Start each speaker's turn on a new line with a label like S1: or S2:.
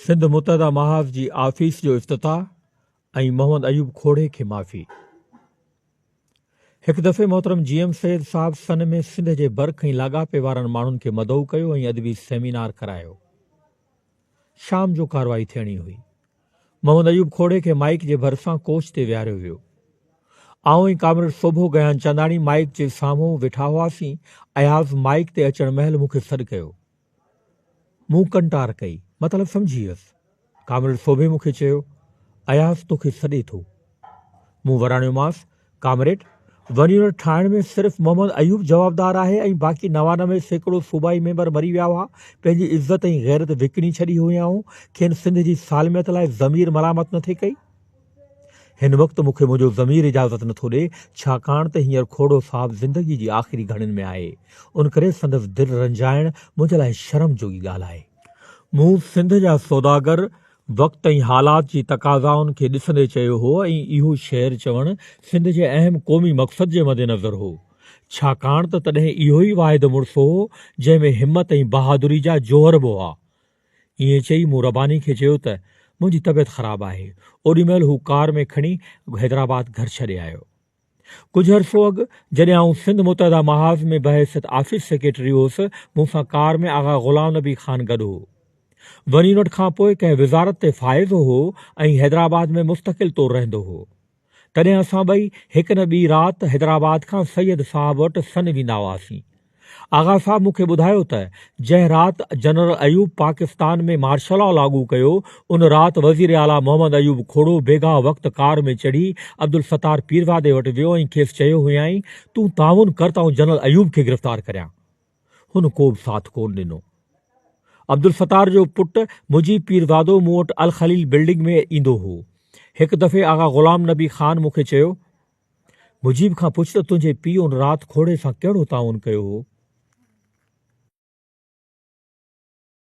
S1: سنڌ متحده محاذ جي آفيس جو افتتاح ۽ محمد ايوب کوڙي کي معافي. هڪ دفعي محترم جي ايم سيد صاحب سن ۾ سنڌ جي برک ۽ لاڳاپي وارن ماڻهن کي مدعو ڪيو ۽ ادبي سيمينار ڪرايو. شام جو ڪارروائي ٿيڻي هئي. محمد ايوب کوڙي کي مائيڪ جي ڀرسان ڪوچ تي ويهاريو ويو. آئون ۽ ڪامريڊ سوڀو گيان چنداڻي مائيڪ جي سامهون ويٺا هئاسين. اياز مائيڪ تي اچڻ مهل مون کي سڏ ڪيو. مون ڪنٽار ڪئي، مطلب سمجهي ويس. ڪامريڊ سوڀي مون کي چيو، اياز توکي سڏي ٿو. مون وراڻيومانس، ڪامريڊ، ونيون ٺاهڻ ۾ صرف محمد ايوب جوابدار آهي ۽ باقي نوانوي سيڪڙو صوبائي ميمبر مري ويا هئا، پنهنجي عزت ۽ غيرت وڪڻي ڇڏي هيائون، کين سنڌ جي سالميت لاء ضمير ملامت نه ٿي ڪئي. هن وقت مون کي منهنجو ضمير اجازت نٿو ڏئي، ڇاڪاڻ ته هينئر کوڙو صاحب زندگيء جي آخري گهڙين ۾ آهي، ان ڪري سندس دل رنجائڻ منهنجي لاء شرم جوڳي ڳالهه آهي. مون سنڌ جا سوداگر، وقت ۽ حالات جي تقاضائن کي ڏسندي چيو هو ۽ اهو شعر چوڻ سنڌ جي اهم قومي مقصد جي مدنظر هو، ڇاڪاڻ ته تڏهن اهو ئي واحد مڙس هو، جنهن ۾ همت ۽ بهادري جا جوهر به هئا. ائين چئي مون رباني کي چيو ته منهنجي طبيعت خراب آهي. اوڏي مهل هو ڪار ۾ کڻي حيدرآباد گهر ڇڏي آيو. ڪجهه عرصو اڳ جڏهن آئون سنڌ متحده محاذ ۾ بحيثيت آفيس سيڪريٽري هوس، مون سان ڪار ۾ آغا غلام نبي خان گڏ هو. ونينوٽ کان پوء ڪنهن وزارت تي فائز هو ۽ حيدرآباد ۾ مستقل طور رهندو هو. تڏهن اسان ٻئي هڪ نه ٻي رات حيدرآباد کان سيد صاحب وٽ سن ويندا هئاسين. آغا صاحب مون کي ٻڌايو ته جنهن رات general Ayub Pakistan ۾ martial law لاڳو ڪيو، ان رات وزير اعليٰ محمد ايوب کوڙو بيگاهه وقت ڪار ۾ چڙهي عبدالستار پيرزادي وٽ ويو ۽ کيس چيو هيائين، تون تعاون ڪر ته آئون جنرل ايوب کي گرفتار ڪريان. هن ڪوبه ساٿ ڪونه ڏنو. عبدالستار جو پٽ مجيب پيرزادو مون وٽ الخليل بلڊنگ ۾ ايندو هو. هڪ دفعي آغا غلام نبي خان مون کي چيو، مجيب کان پڇ ته تنهنجي پيء ان رات کوڙي سان ڪهڙو تعاون ڪيو هو؟